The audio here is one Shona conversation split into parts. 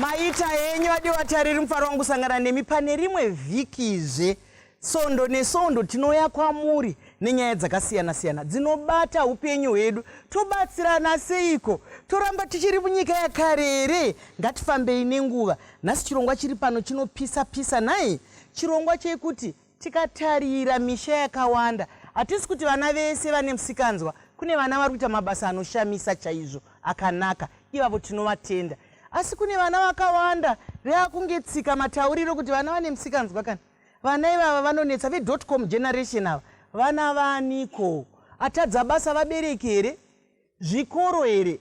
maita henyu adi vatariri mufaro wangu sangana nemi pane rimwe vhikizve sondo nesondo tinouya kwamuri nenyaya dzakasiyana siyana dzinobata upenyu hwedu tobatsirana seiko toramba tichiri munyika yakare here ngatifambei nenguva nhasi chirongwa chiri pano chinopisa pisa nhai chirongwa chekuti Tikatarira misha yakawanda, hatisi kuti vana vese vane musikanzwa. Kune vana vari kuita mabasa anoshamisa chaizvo akanaka, ivavo tinovatenda. Asi kune vana vakawanda reakunge tsika matauriro kuti vana vane musikanzwa kana vana ivava vanonetsa vedotcom generation ava vana vaaniko atadza basa vabereki here zvikoro here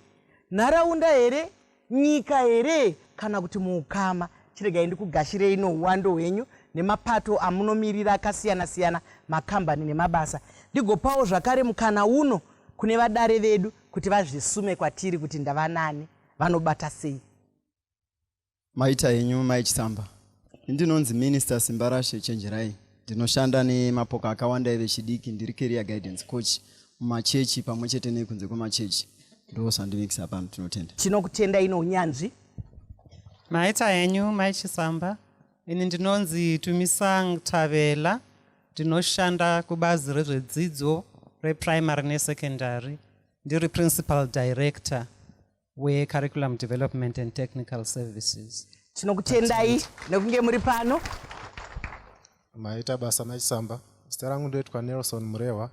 nharaunda here nyika here kana kuti muukama chiregai ndikugashirei nouwando hwenyu nemapato amunomirira akasiyana siyana makambani nemabasa ndigopawo zvakare mukana uno kune vadare vedu kuti vazvisume kwatiri kuti ndavanani vanobata sei maita henyu mai chisamba ndinonzi minister simbarashe chenjerai ndinoshanda nemapoka akawanda evechidiki ndiri career guidance coach mumachechi pamwe chete nekunze kwemachechi ndosandimikisa pano tinotenda tinokutenda ino unyanzvi maita henyu mai chisamba ini ndinonzi tumisang tavela ndinoshanda kubazi rezvedzidzo reprimary nesecondary ndiri principal director wecurriculum development and technical services tinokutendai nekunge muri pano maita basa machisamba zita rangu ndoitwa nelson murehwa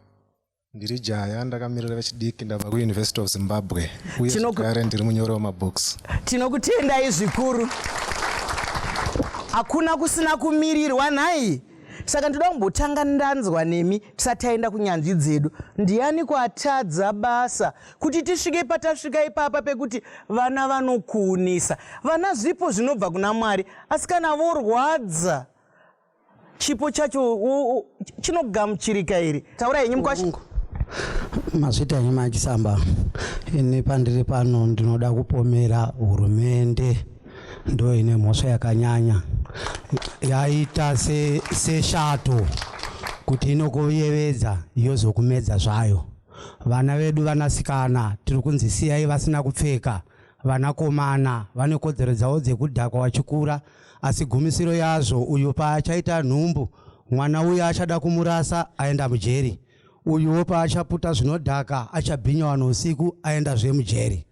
ndiri jaya ndakamirira vechidiki ndabva kuuniversity of zimbabwe uye zvekare ndiri munyori wemabooks tinokutendai zvikuru hakuna kusina kumirirwa nhai saka ndoda kumbotanga ndanzwa nemi tisati taenda kunyanzvi dzedu ndiani kwatadza basa kuti tisvike patasvika ipapa pekuti vana vanokuunisa vana zvipo zvinobva kuna mwari asi kana vorwadza chipo chacho chinogamuchirika here taura henyu mukwasha mazvita henyu machisamba ini pandiri pano ndinoda kupomera hurumende ndo ine mhosva yakanyanya yaita seshato se kuti inokuyevedza yozokumedza zvayo Vana vedu vanasikana tiri kunzi siyai vasina kupfeka. Vanakomana vane kodzero dzavo dzekudhakwa vachikura, asi gumisiro yazvo uyo paachaita nhumbu, mwana uya achada kumurasa aenda mujeri. Uyuwo paachaputa zvinodhaka, achabhinya vanhu usiku aendazve mujeri.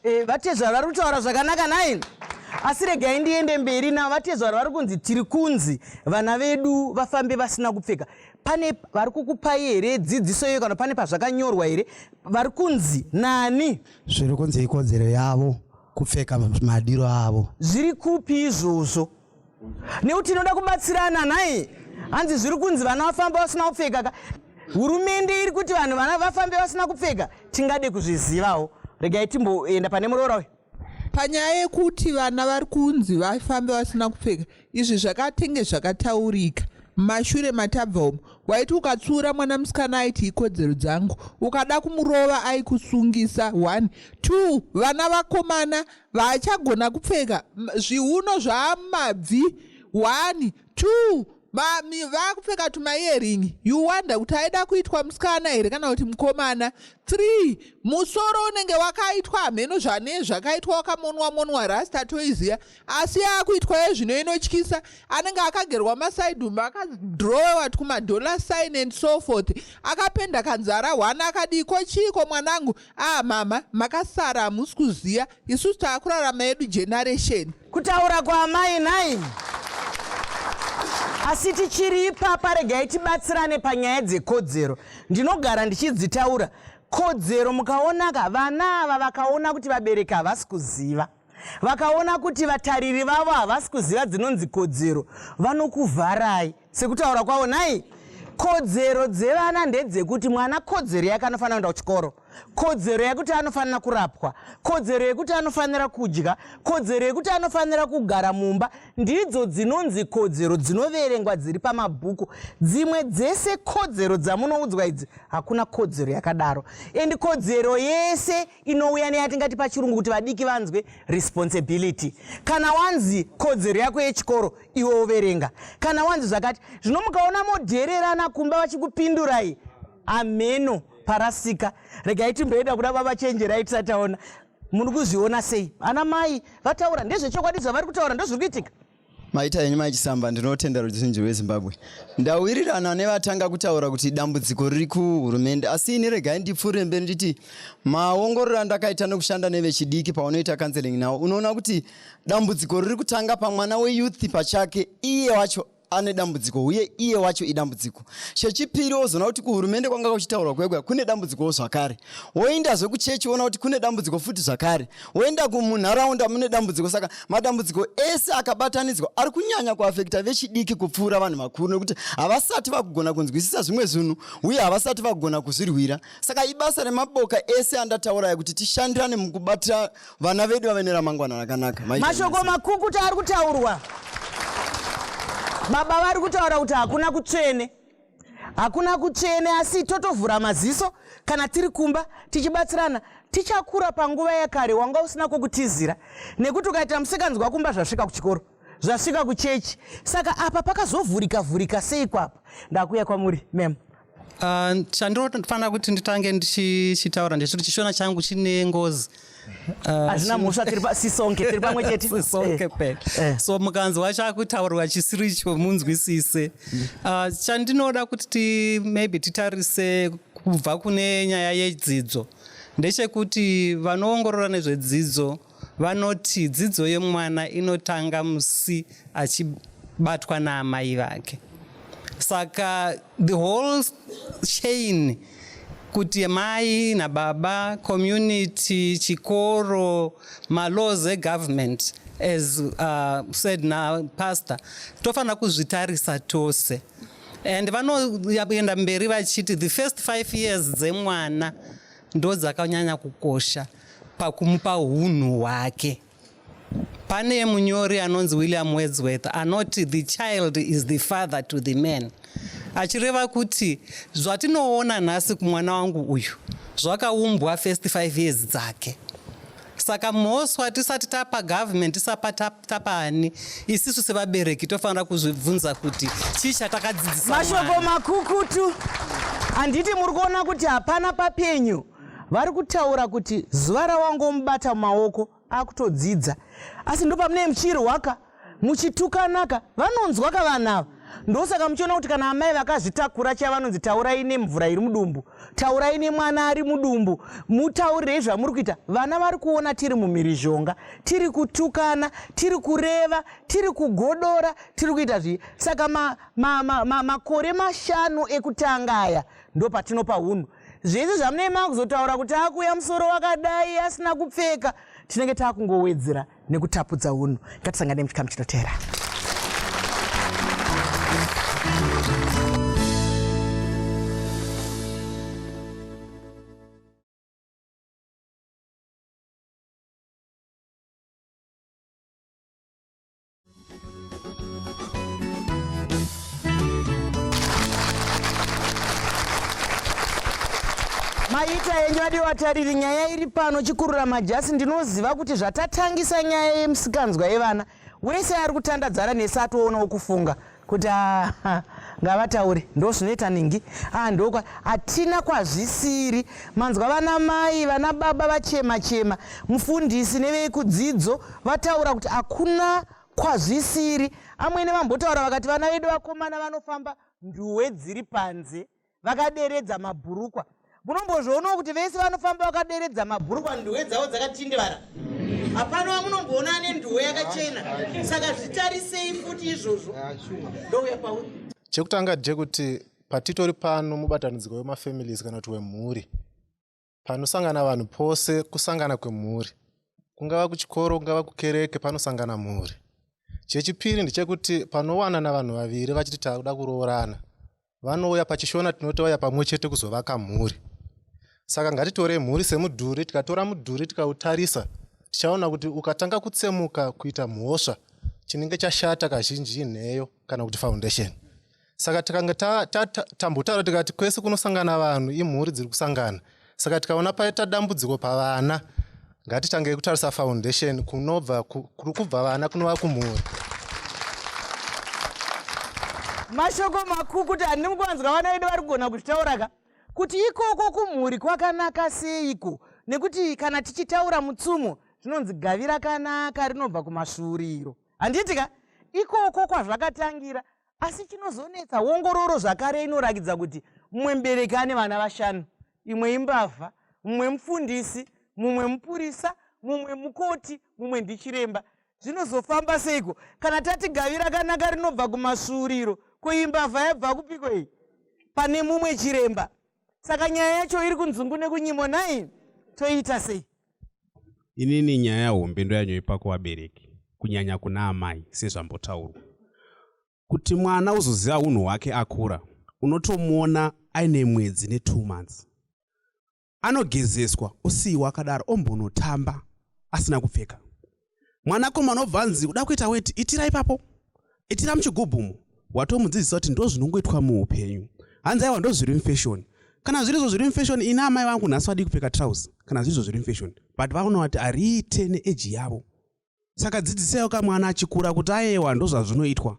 Eh, vatezvara vari kutaura zvakanaka nine asi regai ndiende mberi navo vatezvara vari kunzi tiri kunzi vana vedu vafambe vasina kupfeka pane vari kukupai here dzidziso iyoyo kana pane pazvakanyorwa here vari kunzi nani zviri kunzi ikodzero yavo kupfeka madiro avo zviri kupi izvozvo nekuti tinoda kubatsirana nhai hanzi zviri kunzi vana vafamba vasina kupfeka ka hurumende iri kuti vanhu vana vafambe vasina kupfeka tingade kuzvizivawo regai timboenda pane muroora uyu panyaya yekuti vana vari kunzi vafambe vasina kupfeka izvi zvakatenge zvakataurika mashure matabva umu waiti ukatsiura mwana musikana aiti ikodzero dzangu ukada kumurova aikusungisa one two vana vakomana Vaachagona kupfeka zviuno zvamabvi one two vakupfeka tumaearingi you wonder kuti aida kuitwa musikana here kana kuti mukomana three musoro unenge wakaitwa hameno zvane zvakaitwa wakamonwa monwa rasta toiziva asi yaakuitwa yezvino inotyisa anenge akagerwa masaidhumba akadrowewa tkumadollar sign and so forth akapenda kanzara one akadii ko chiiko mwanangu Ah mama makasara hamusi kuziva isusu taakurarama yedu generation. Kutaura kwaamai nhai. Asi tichiri ipapa regai tibatsirane panyaya dzekodzero. Ndinogara ndichidzitaura kodzero mukaonaka vana ava vakaona kuti vabereki havasi kuziva vakaona kuti vatariri vavo havasi kuziva dzinonzi kodzero vanokuvharai sekutaura kwavo nhai kodzero dzevana ndedzekuti mwana kodzero yake anofanira kuenda kuchikoro kodzero yekuti anofanira kurapwa kodzero yekuti anofanira kudya kodzero yekuti anofanira kugara mumba ndidzo dzinonzi kodzero dzinoverengwa dziri pamabhuku dzimwe dzese kodzero dzamunoudzwa idzi hakuna kodzero yakadaro endi kodzero yese inouya neyatingati pachirungu kuti vadiki vanzwe responsibility kana wanzi kodzero yako yechikoro iwe overenga kana wanzi zvakati zvino mukaona modhererana kumba vachikupindurai hameno parasika regai timboenda kuda baba chenjerai tisataona muri kuzviona sei ana mai vataura ndezvechokwadi zvavari kutaura ndozviri kuitika Maita henyu mai Chisamba, ndinotenda ruzhinji rweZimbabwe. Ndawirirana nevatanga kutaura kuti dambudziko riri kuhurumende, asi ini regai ndipfuurire mberi nditi maongororo andakaita nekushanda nevechidiki paunoita counseling nawo unoona kuti dambudziko riri kutanga pamwana weyouth pachake iye wacho ane dambudziko uye iye wacho idambudziko chechipiri wozoona kuti kuhurumende kwanga kuchitaurwa kwega kune dambudzikowo zvakare woindazve kuchechi woona kuti kune dambudziko futi zvakare woenda kumunharaunda mune dambudziko saka madambudziko ese akabatanidzwa ari kunyanya kuafekta vechidiki kupfuura vanhu vakuru nekuti havasati vakugona kunzwisisa zvimwe zvinhu uye havasati vakugona kuzvirwira saka ibasa remaboka ese andatauraya kuti tishandirane mukubatira vana vedu vave neramangwana rakanaka mashoko makukuta ari kutaurwa baba vari kutaura kuti hakuna kutsvene hakuna kutsvene asi totovhura maziso kana tiri kumba tichibatsirana tichakura panguva yakare wanga usina kwokutizira nekuti ukaita musikanzwa kumba zvasvika kuchikoro zvasvika kuchechi saka apa pakazovhurika vhurika sei kwapa ndakuya kwamuri mem ah, chandinofanira kuti nditange ndichitaura ndechiti chishona changu chine ngozi Ah, hazvina mhosva tiri pasisonke tiri pamwe chete sisonke pena eh, eh. so mukanzwa chakutaurwa chisiri icho munzwisise ah, chandinoda kuti maybe titarise kubva kune nyaya yedzidzo ndechekuti vanoongorora nezvedzidzo vanoti dzidzo yemwana inotanga musi achibatwa naamai vake saka the whole chain kuti mai nababa community chikoro malaws egovernment as uh, said napastor tofanira kuzvitarisa tose and vanoenda mberi vachiti the first five years dzemwana ndo dzakanyanya kukosha pakumupa unhu hwake Pane munyori anonzi William Wordsworth anoti the child is the father to the man achireva kuti zvatinoona nhasi kumwana wangu uyu zvakaumbwa first five years dzake saka mhoswa tisati tapa government tisapa tapa ani isisu sevabereki tofanira kuzvibvunza kuti chii chatakadzidzisa mashoko makukutu handiti muri kuona kuti hapana papenyu vari kutaura kuti zuva rawangomubata mumaoko akutodzidza asi ndopamunee muchirwaka muchitukanaka vanonzwa ka vana ava ndosaka muchiona kuti kana amai vakazvitakura chiya vanonzi taurai nemvura iri mudumbu taurai nemwana ari mudumbu mutaurirei zvamuri kuita vana vari kuona tiri mumhirizhonga tiri kutukana tiri kureva tiri kugodora tiri kuita zvii saka makore ma, ma, ma, mashanu ekutanga aya ndopatinopa unhu zvese zvamunei makuzotaura kuti akuuya musoro wakadai asina kupfeka tinenge taakungowedzera nekutapudza unhu ngatisangane muchikamu chinotera maita yenyu adiwatariri nyaya iri pano chikurura majasi ndinoziva kuti zvatatangisa nyaya yemusikanzwa yevana wese ari kutandadzana nesi atoonawo kufunga kuti ah, ah, ngavataure ndozvinoita ningi ah, ndokwa hatina kwazvisiri manzwa vana mai vana baba vachema chema mufundisi nevekudzidzo vataura kuti hakuna kwazvisiri amwene vambotaura vakati vana vedu vakomana vanofamba nduwe dziri panze vakaderedza mabhurukwa munombozvionawo kuti vese vanofamba vakaderedza mabhurukwa nduwe dzavo dzakatindivara hapana wamunomboona ane nduwe yakachena saka zvitarisei futi izvozvo ndouya pauri chekutanga chekuti patitori pano mubatanidziko wemafamilies kana kuti wemhuri panosangana vanhu pose kusangana kwemhuri kungava kuchikoro kungava kukereke panosangana mhuri chechipiri ndechekuti panowanana vanhu vaviri vachiti takuda kuroorana vanouya pachishona tinoti vauya pamwe chete kuzovaka mhuri saka ngatitorei mhuri semudhuri tikatora mudhuri tikautarisa tichaona kuti ukatanga kutsemuka kuita mhosva chinenge chashata kazhinji inheyo kana kuti foundation saka takanga tambotaura tikati kwese kunosangana vanhu imhuri dziri kusangana saka tikaona paita dambudziko pavana ngatitange kutarisa foundation kunobva kuri kubva vana kunova kumhuri mashoko makuru kuti handidi mukuvanzwa vana vedu vari kugona kuzvitaura ka kuti ikoko kumhuri kwakanaka seiko nekuti kana tichitaura mutsumo zvinonzi gavi rakanaka rinobva kumasvuuriro handiti ka ikoko kwazvakatangira asi chinozonetsa ongororo zvakare inorakidza kuti mumwe mubereki ane vana vashanu imwe imbavha mumwe mufundisi mumwe mupurisa mumwe mukoti mumwe ndichiremba zvinozofamba seiko kana tati gavi rakanaka rinobva kumasvuuriro koimbavha yabva kupiko iyi pane mumwe chiremba saka nyaya yacho iri kunzungu nekunyimo nhai toiita sei inini nyaya hombe ndoyanyoipa kuvabereki kunyanya kuna amai sezvambotaurwa kuti mwana uzoziva unhu hwake akura unotomuona aine mwedzi netwo months anogezeswa osiyiwa akadaro ombonotamba asina kupfeka mwanakomana obva anzi kuda kuita weti itira ipapo itira muchigubhu umo watomudzidzisa kuti ndo zvinongoitwa muupenyu hanzi aiwa ndo zviri mufashoni kana zviri zvo zviri mufashoni ini amai vangu nhasi vadii kupfeka trouse kana zviri zvo zviri mufashoni but vaona kuti ariite neeji yavo saka dzidzisayo kamwana achikura kuti ayewa ndo zvazvinoitwa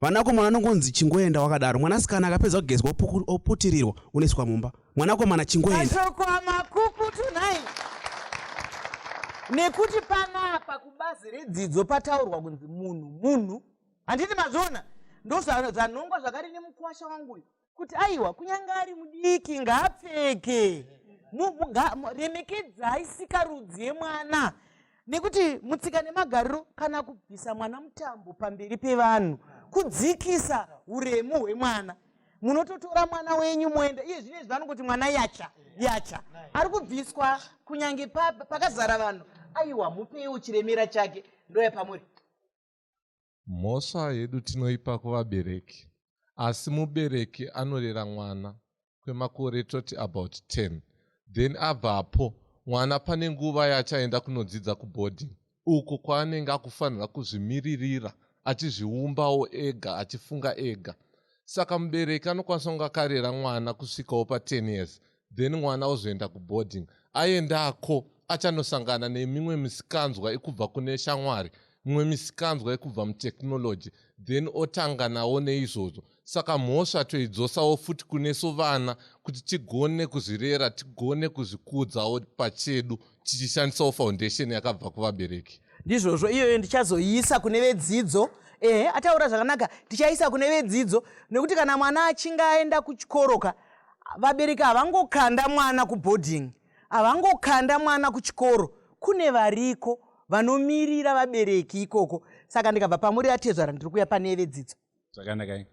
vanakomana anongonzi chingoenda wakadaro mwanasikana akapedza kugezwa oputirirwa unoiswa mumba mwanakomana chingoendamashoko amakuku tonight nekuti panapa kubazi redzidzo pataurwa kunzi munhu munhu handiti mazviona ndozvanongwa zvakari nemukwasha wangu uyu kuti aiwa kunyange ari mudiki ngaapfeke remekedzai sikarudzi yemwana nekuti mutsika nemagariro kana kubvisa mwana mutambo pamberi pevanhu kudzikisa uremu hwemwana munototora mwana wenyu moenda iye zvine izvi vanongoti mwana yacha yacha ari kubviswa kunyange pakazara vanhu aiwa mupeiwo chiremera chake ndoya pamuri Mhosva yedu tinoipa kuvabereki asi mubereki anorera mwana kwemakore toti about 10 then abvapo mwana pane nguva yachaenda kunodzidza kuboarding uko kwaanenge akufanira kuzvimiririra achizviumbawo ega achifunga ega saka mubereki anokwanisa kunge akarera mwana kusvikawo pa10 years then mwana ozoenda kuboarding aendako achanosangana nemimwe misikanzwa ikubva kune shamwari mimwe misikanzwa ikubva mutechnology then otanga nawo neizvozvo saka mhosva toidzosawo futi kunesu vana kuti tigone kuzvirera tigone kuzvikudzawo pachedu tichishandisawo foundation yakabva kuvabereki ndizvozvo iyoyo ndichazoiisa kune vedzidzo ehe ataura zvakanaka tichaisa kune vedzidzo nekuti kana mwana achinge aenda kuchikoroka vabereki havangokanda mwana kuboarding havangokanda mwana kuchikoro kune variko vanomirira vabereki ikoko saka ndikabva pamuri atezvara ndiri kuya pane vedzidzo zvakanaka eh,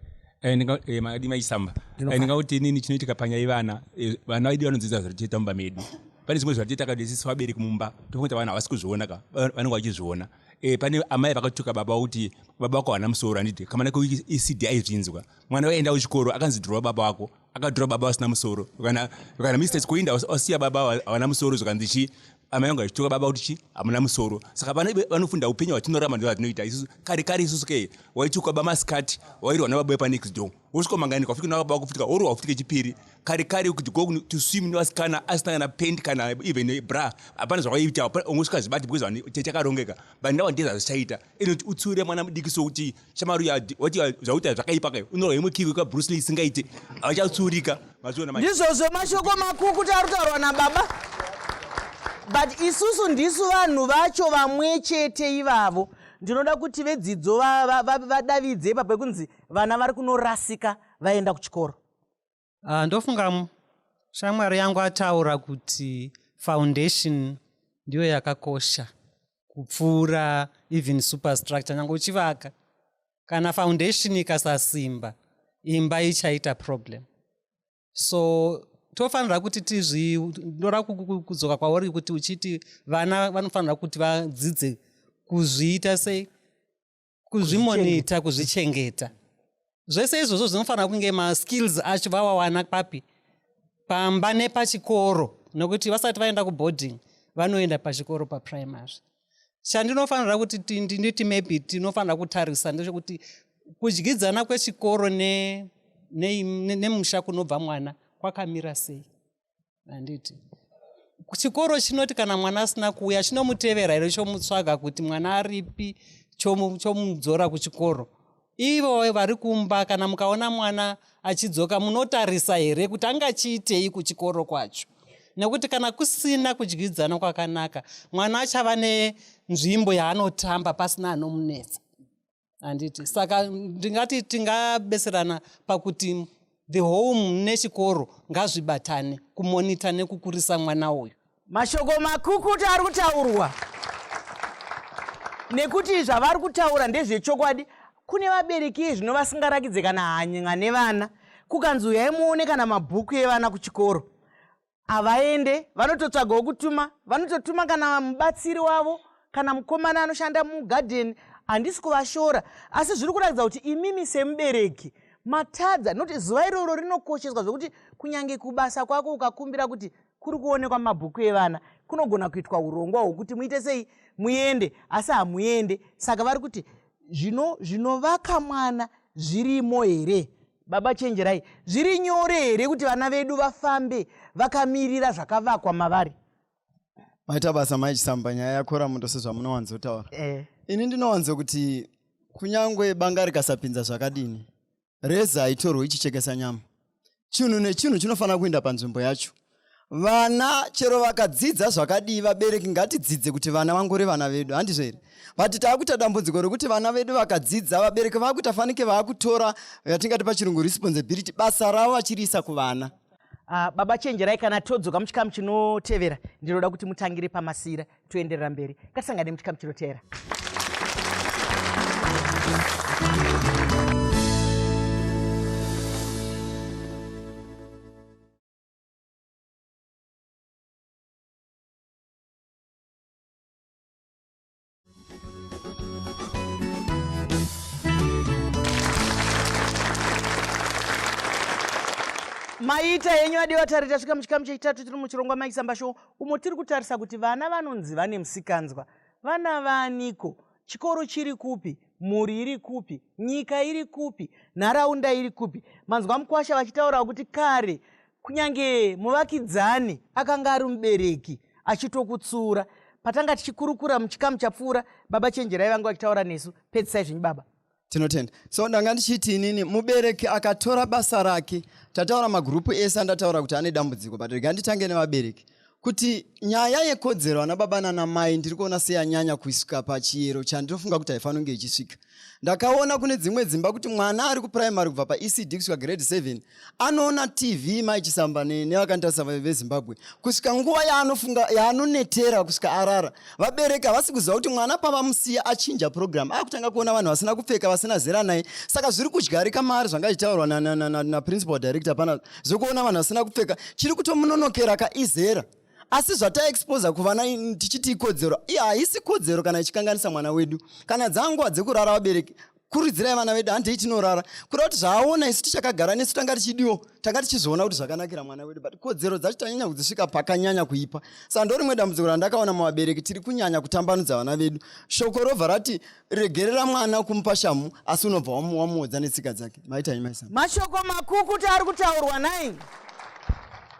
eh, makadi maisamba eh, ndingauti inini chinoitika panyaya ivana vana vaidi vanodzidza zviri tiita mumba medu pane zvimwe zvati takadesisa vabereki mumba tokuti vanhu havasi kuzviona ka vanenge vachizviona e, pane amai vakatuka baba kuti baba wako havana musoro handiti kamana kuecd aizvinzwa mwana waenda kuchikoro akanzi dhurwa baba wako akadhura baba vasina musoro kana kana mistake kuinda wasiya baba havana musoro zvikanzi chi amai vangu vachituka baba kuti chi hamuna musoro saka pana vanofunda upenyu hwatinorama ndo vatinoita isusu kare kare isusu ke waituka baba masikati wairwa nababae panext door wosvika mangani kwafika nababa kufutika oro wafutika chipiri kare kare kuti go to swim nevasikana asina kana pent kana even bra hapana zvawaiita ungosvika zvibati because tete akarongeka but now ndezvazvichaita inoti utsiure mwana mudiki sokuti shamaru wati zvakuita zvakaipa kayo unorwa imwe kiwi kabruce lee isingaite havachatsiurika mazviona ndizvozvo mashoko makukuti ari kutaurwa nababa but isusu ndisu vanhu vacho vamwe chete ivavo ndinoda kuti vedzidzo vadavidze ipapo yekunzi vana vari kunorasika vaenda kuchikoro uh, ndofunga shamwari yangu ataura kuti foundation ndiyo yakakosha kupfuura even superstructure nyange uchivaka kana foundation ikasasimba imba ichaita problem so tofanira kuti tizvi ndora kudzoka kwauri kuti uchiti vana vanofanira kuti vadzidze kuzviita sei kuzvimonita kuzvichengeta zvese izvozvo zvinofanira kunge maskills acho vawawana papi pamba nepachikoro nokuti vasati vaenda kuboarding vanoenda pachikoro paprimary chandinofanira kuti nditi maybe tinofanira kutarisa ndechekuti kudyidzana kwechikoro nemusha ne, ne, ne kunobva mwana kwakamira sei handiti chikoro chinoti kana mwana asina kuuya chinomutevera here chomutsvaga kuti mwana aripi chomudzora kuchikoro ivo vari kumba kana mukaona mwana achidzoka munotarisa here kuti angachiitei kuchikoro kwacho nekuti kana kusina kudyidzana kwakanaka mwana achava nenzvimbo yaanotamba pasina anomunetsa handiti saka ndingati tingabeserana pakuti the home nechikoro ngazvibatane kumonita nekukurisa mwana uyu mashoko makukutu ari kutaurwa nekuti zvavari kutaura ndezvechokwadi kune vabereki zvino vasingarakidze kana hany'a nevana kukanzi uyai muone kana mabhuku evana kuchikoro havaende vanototsvagawo kutuma vanototuma kana mubatsiri wavo kana mukomana anoshanda mugadheni handisi kuvashora asi zviri kuratidza kuti imimi semubereki matadza noti zuva iroro rinokosheswa zvekuti kunyange kubasa kwako ukakumbira kuti kuri kuonekwa mabhuku evana kunogona kuitwa urongwa hwokuti muite sei muende asi hamuende saka vari kuti zvinovaka mwana zvirimo here Baba chenjerai, zviri nyore here kuti vana vedu vafambe vakamirira zvakavakwa mavari? Maita basa mai Chisamba, nyaya yakora muto sezvamunowanzotaura. Eh. Ini ndinowanzo kuti kunyangwe banga rikasapinza zvakadini, reza haitorwe ichichekesa nyama. Chinhu nechinhu chinofanira kuenda panzvimbo yacho. vana chero vakadzidza zvakadii vabereki ngatidzidze kuti vana vangori vana vedu handizvo here but taakuita dambudziko rekuti vana vedu vakadzidza vabereki vaakuita fanike vaakutora yatingati pachirungu responsibility basa ravo vachiriisa kuvana uh, baba chenjerai kana todzoka muchikamu chinotevera ndinoda kuti mutangire pamasira toenderera mberi katisangane muchikamu chinotevera maita henyu adiwa tari tasvika muchikamu chechitatu tiri muchirongwa maisamba show umo tiri kutarisa kuti vana vanonzi vane musikanzwa vana vaniko chikoro chiri kupi mhuri iri kupi nyika iri kupi nharaunda iri kupi manzwa mukwasha vachitaurawo kuti kare kunyange muvakidzani akanga ari mubereki achitokutsura patanga tichikurukura muchikamu chapfuura baba chenjerai vanga vachitaura nesu pedzisai zvenyu baba tinotenda so ndanga ndichiti inini mubereki akatora basa rake tataura magurupu ese andataura kuti ane dambudziko but rega nditange nevabereki kuti nyaya yekodzero ana baba nana mai ndiri kuona seyanyanya kusvika pachiyero chandinofunga kuti haifanonge ichisvika ndakaona kune dzimwe dzimba kuti mwana ari kupuraimary kubva paecd kusvika grade 7 anoona tv mai chisamba nevakandirasa vezimbabwe kusvika nguva yaanofunga yaanonetera kusvika arara vabereki havasi kuziva kuti mwana pavamusiya achinja program akutanga kuona vanhu vasina kupfeka vasina zera naye saka zviri kudyarika maari zvanga ichitaurwa naprincipal director pana zvekuona vanhu vasina kupfeka chiri kutomunonokera ka izera asi zvataexposa kuvana tichiti ikodzero haisi kodzero kana ichikanganisa mwana wedu kana dzanguva dzekurara vabereki kuridzirai vana vedu handei tinorara kuda kuti zvaaona isu tichakagara nesu tanga tichidiwo tanga tichizoona kuti zvakanakira mwana wedu but kodzero dzacho tanyanya kudzisvika pakanyanya kuipa sa ndo rimwe dambudziko randakaona muvabereki tiri kunyanya kutambanudza vana vedu shoko robva rati regerera mwana kumupa shamu asi unobva wamuodza netsika dzake maitai maisa mashoko makukuti ari kutaurwa nai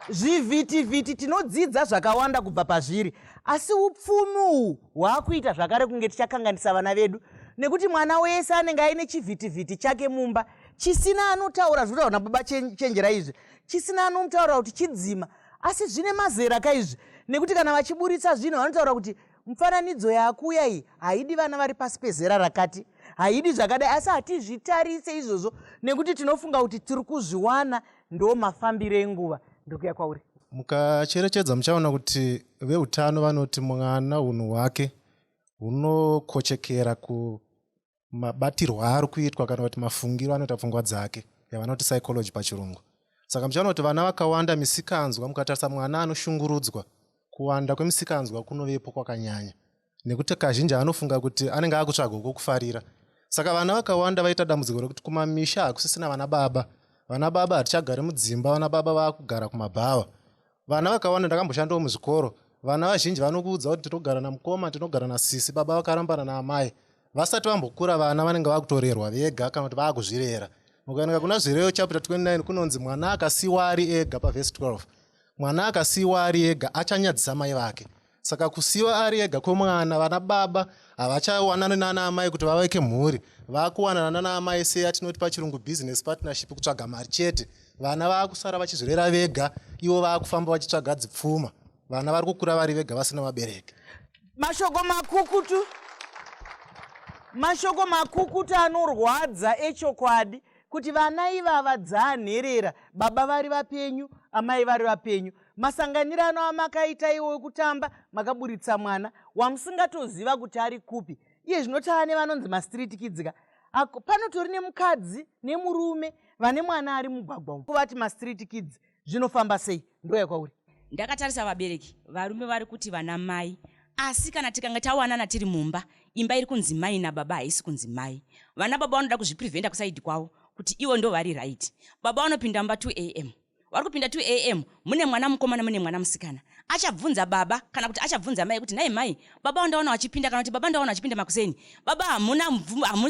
zvivhitivhiti tinodzidza zvakawanda kubva pazviri asi upfumi uhwu hwaakuita zvakare kunge tichakanganisa vana vedu nekuti mwana wese anenge aine chivhitivhiti chake mumba chisina anotaura zvinotaura na baba chenjera izvi chisina anomutaura kuti chidzima asi zvine mazera ka izvi nekuti kana vachiburitsa zvinhu vanotaura kuti mufananidzo yakuuya iyi haidi vana vari pasi pezera rakati haidi zvakadai asi hatizvitarise izvozvo nekuti tinofunga kuti tiri kuzviwana ndo mafambiro enguva ndokuya kwauri mukacherechedza muchaona kuti veutano vanoti mwana unhu hwake hunokochekera kumabatirwo aari kuitwa kana kuti mafungiro anoita pfungwa dzake yavanoti psychology pachirungu saka muchaona kuti vana vakawanda misikanzwa mukatarisa mwana anoshungurudzwa kuwanda kwemisikanzwa kunovepo kwakanyanya nekuti kazhinji anofunga kuti anenge akutsvaga kwokufarira saka vana vakawanda vaita dambudziko rekuti kumamisha hakusisina vana baba vana baba hatichagari mudzimba vana baba vakugara kumabhawa vana vakawanda ndakamboshandawo muzvikoro vana vazhinji vanokuudza kuti tinogara namukoma tinogara nasisi baba vakarambana naamai vasati vambokura vana vanenge vakutorerwa vega kana kuti vakuzvirera ukaenda kuna zvireyo chapter 29 kunonzi mwana akasiwa ari ega pavhesi 12 mwana akasiwa ari ega achanyadzisa mai vake saka kusiwa ari ega kwemwana vana baba havachawanani nana amai kuti vaveke mhuri vakuwanana nana amai seya tinoti pachirungu business partnership kutsvaga mari chete vana vakusara vachizvirera vega ivo vakufamba vachitsvaga dzipfuma vana vari kukura vari vega vasina vabereki mashoko makukutu mashoko makukutu anorwadza echokwadi kuti vana ivava dzaanherera baba vari vapenyu amai vari vapenyu masanganirano amakaita iwo wekutamba makaburitsa mwana wamusingatoziva kuti ari kupi iye zvino tava nevanonzi mastreet kids ka ako panotori nemukadzi nemurume vane mwana ari mugwagwa umu kuvati mastreet kids zvinofamba sei ndoya kwauri ndakatarisa vabereki varume vari kuti vana mai asi kana tikange tawanana tiri mumba imba iri kunzi mai nababa haisi kunzi mai vana baba vanoda kuzvipreventa kusaidi kwavo kuti ivo ndo vari right baba vanopinda mumba 2 am vari kupinda 2 am mune mwana mukomana mune mwana musikana achabvunza baba kana kuti achabvunza mai kuti nhai mai baba wandaona wachipinda kana kuti baba ndaona wachipinda makuseni baba hamuna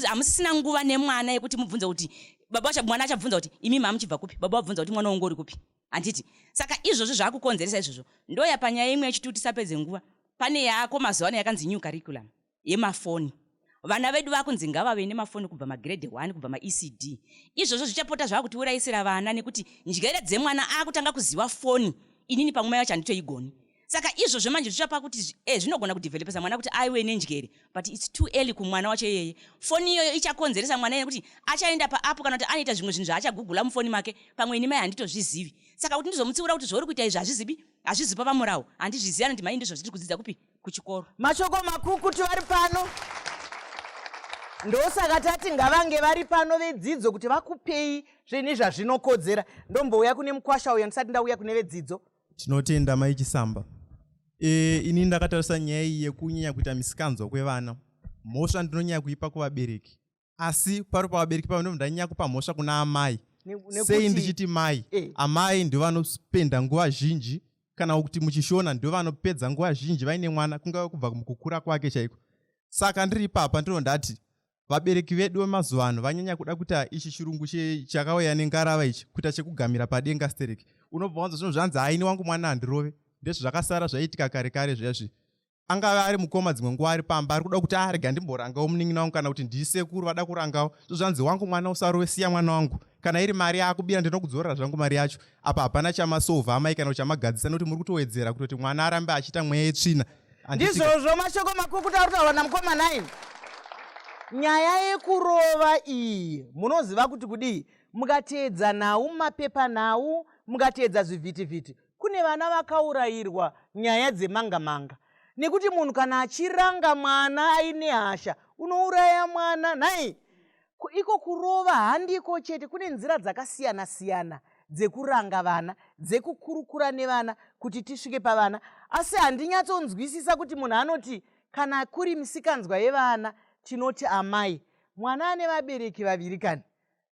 hamusisina nguva nemwana yekuti mubvunze kuti baba mwana achabvunza kuti imi mamuchibva kupi baba wabvunza kuti mwana wongo uri kupi handiti saka izvozvo zvaakukonzeresa izvozvo ndoya panyaya imwe yechituti sapedze nguva pane yako mazuva ano yakanzi new curriculum yemafoni vana vedu vakunzi ngavave nemafoni kubva magiredi 1 kubva maecd izvozvo zvichapota zvava kutiurayisira vana nekuti njere dzemwana akutanga kuziva foni inini pamwe mai vacho handitoigoni saka izvozvo manje zvichapa kuti eh, zvinogona eh, kudevelopesa mwana kuti aiwe nenjere but its too early kumwana wacho iyeye foni iyoyo ichakonzeresa mwana yekuti achaenda paapo kana kuti anoita zvimwe zvinhu zvaachagugula mufoni make pamwe ini mai handitozvizivi saka kuti ndizomutsiura kuti zvauri kuita izvi hazvizibi hazvizipa pamurawo handizvizivi anoti mai ndizvo zviri kudzidza kupi kuchikoro mashoko makukutu vari pano ndosaka tati ngavange vari pano vedzidzo kuti vakupei zvine zvazvinokodzera ndombouya kune mukwasha uyo ndisati ndauya kune vedzidzo tinotenda mai chisamba e, ini ndakatarisa nyaya iyi yekunyanya kuita misikanzwa kwevana mhosva ndinonyanya kuipa kuvabereki asi pari pavabereki pavo ndomunhu ndanyanya kupa mhosva kuna amai sei ndichiti mai eh. amai ndo vanopenda nguva zhinji kana kuti muchishona ndo vanopedza nguva zhinji vaine mwana kungave kubva mukukura kwake chaiko saka ndiri ipapa ndino ndati vabereki vedu vemazuva ano vanyanya kuda kuita ichi chirungu chakauya nengarava ichi kuita chekugamira padenga stereki unobva wanza zvinhu zvanzi haini wangu mwana handirove ndezvo zvakasara zvaiitika kare kare zviya zvi angave ari mukoma dzimwe nguva ari pamba ari kuda kuti arega ah, ndimborangawo munin'ina wangu kana kuti ndisekuru vada kurangawo zvozvanzi wangu mwana usarove siya mwana wangu kana iri mari yaakubira ndinokudzorera zvangu mari yacho apa hapana chamasova amai kana kuti chamagadzisa nekuti muri kutowedzera kutoti mwana arambe achiita mweya yetsvina ndizvozvo mashoko makukuta ari kutaura namukoma nai nyaya yekurova iyi munoziva kuti kudii mukateedza nhau mapepanhau mukateedza zvivhitivhiti kune vana vakaurayirwa nyaya dzemanga manga nekuti munhu kana achiranga mwana aine hasha unouraya mwana nhai iko kurova handiko chete kune nzira dzakasiyana siyana dzekuranga vana dzekukurukura nevana kuti tisvike pavana asi handinyatsonzwisisa kuti munhu anoti kana kuri misikanzwa yevana tinoti amai mwana ane vabereki vaviri kani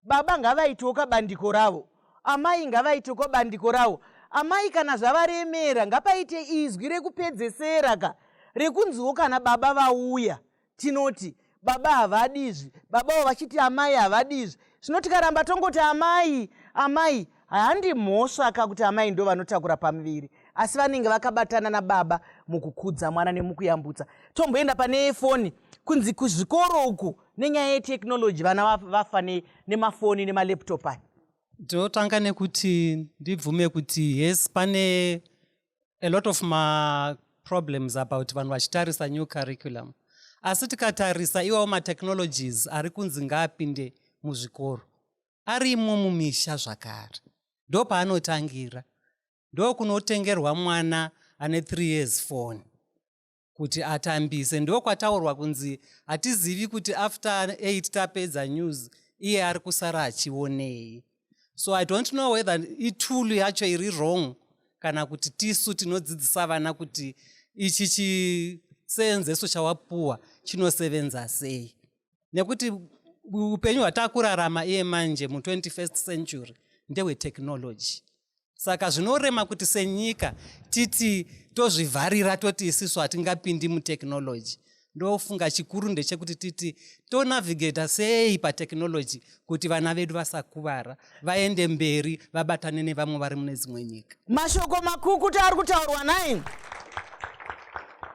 baba ngavaitewo kabandiko ravo amai ngavaite kwabandiko rawo amai kana zvavaremera ngapaite izwi rekupedzesera ka rekunziwo kana baba vauya tinoti baba havadi izvi baba avo vachiti amai havadi izvi zvino tikaramba tongoti amai amai Handi mhosva ka kuti amai ndo vanotakura pamuviri asi vanenge vakabatana nababa mukukudza mwana nemukuyambutsa. Tomboenda pane foni kunzi kuzvikoro uku nenyaya yetechnology vana vafa nemafoni nemalaptop aya. Ndotanga nekuti ndibvume kuti yes pane a lot of ma problems about vanhu vachitarisa new curriculum asi tikatarisa iwawo matechnologies ari kunzi ngaapinde muzvikoro arimo mumisha zvakare ndopaanotangira ndokunotengerwa mwana ane three years foni kuti atambise ndokwataurwa kunzi hatizivi kuti after eight tapedza news iye ari kusara achionei so i don't know whether itulu yacho iri wrong kana kuti tisu tinodzidzisa vana kuti ichi chiseenzeso chawapuwa chinosevenza sei nekuti upenyu hwatakurarama iye manje mu21st century ndehwetechnology saka zvinorema kuti senyika titi tozvivharira toti isisu hatingapindi mutechnology ndofunga chikuru ndechekuti titi tonavigata sei patechnology kuti vana vedu vasakuvara vaende mberi vabatane nevamwe vari mune dzimwe nyika mashoko makukuti ari kutaurwa nai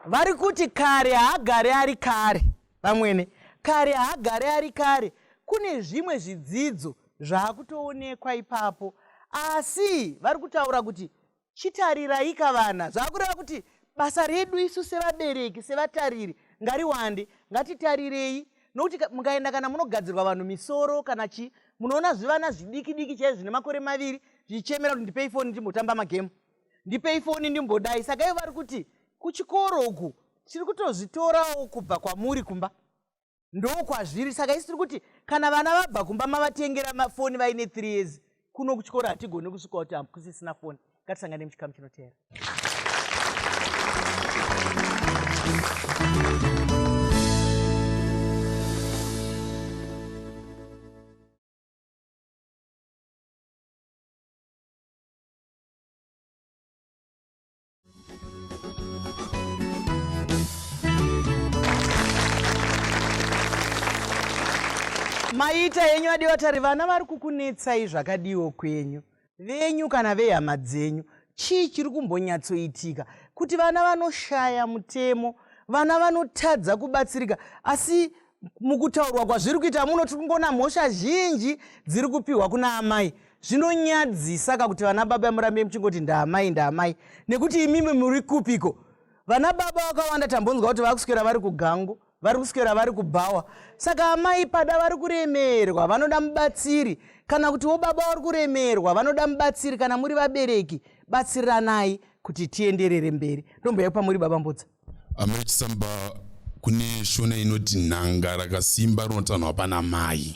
vari kuti kare haagari ari kare Vamwene, kare haagare ari kare, kune zvimwe zvidzidzo zvaakutoonekwa ipapo. Asi vari kutaura kuti chitariraika vana, zvaakureva kuti basa redu isu sevabereki, sevatariri ngariwande, ngatitarirei nokuti mukaenda kana munogadzirwa vanhu misoro kana chii munoona zvivana zvidiki diki chaizvo zvine makore maviri zvichichemera kuti ndipei foni ndimbotamba magemu ndipei foni ndimbodai saka ivo vari kuti kuchikoro uku tiri kutozvitorawo kubva kwamuri kumba ndokwazviri saka isi tiri kuti kana vana vabva kumba mavatengera mafoni vaine three years kuno kuchikoro hatigone kusvika kuti hakusisina foni ngatisangane muchikamu chinoteera maita henyu adiwa tari vana vari kukunetsai zvakadiwo kwenyu venyu kana vehama dzenyu chii chiri kumbonyatsoitika kuti vana vanoshaya mutemo vana vanotadza kubatsirika asi mukutaurwa kwazviri kuita muno tiri kungoona mhosva zhinji dziri kupiwa kuna amai zvinonyadzisa ka kuti vana baba murambe muchingoti ndaamai ndaamai nekuti imimi muri kupiko vana baba vakawanda tambonzwa kuti vari kuswera vari kugangu vari kuswera vari kubhawa saka amai pada vari kuremerwa vanoda mubatsiri kana kuti wo baba vari kuremerwa vanoda mubatsiri kana muri vabereki batsiriranai kuti tienderere mberi ndomboya pamuri baba mbudza Amai Chisamba, kune shona inoti nhanga rakasimba rinotanhwa pana mai.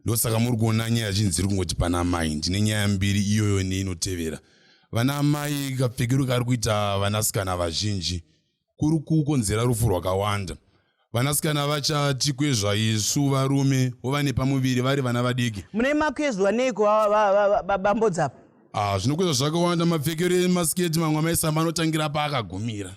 Ndosaka muri kuona nyaya zhinji dziri kungoti pana mai. Ndine nyaya mbiri iyoyo neinotevera. Vana amai kapfekero kari kuita vanasikana vazhinji kuri kukonzera rufu rwakawanda. Vanasikana vachati kwezva isu varume vova nepamuviri vari vana vadiki. Mune makwezwa neiko bambodzapa? Ah, zvinokwezva zvakawanda mapfekero emasiketi mamwe amaisamba anotangira paakagumira.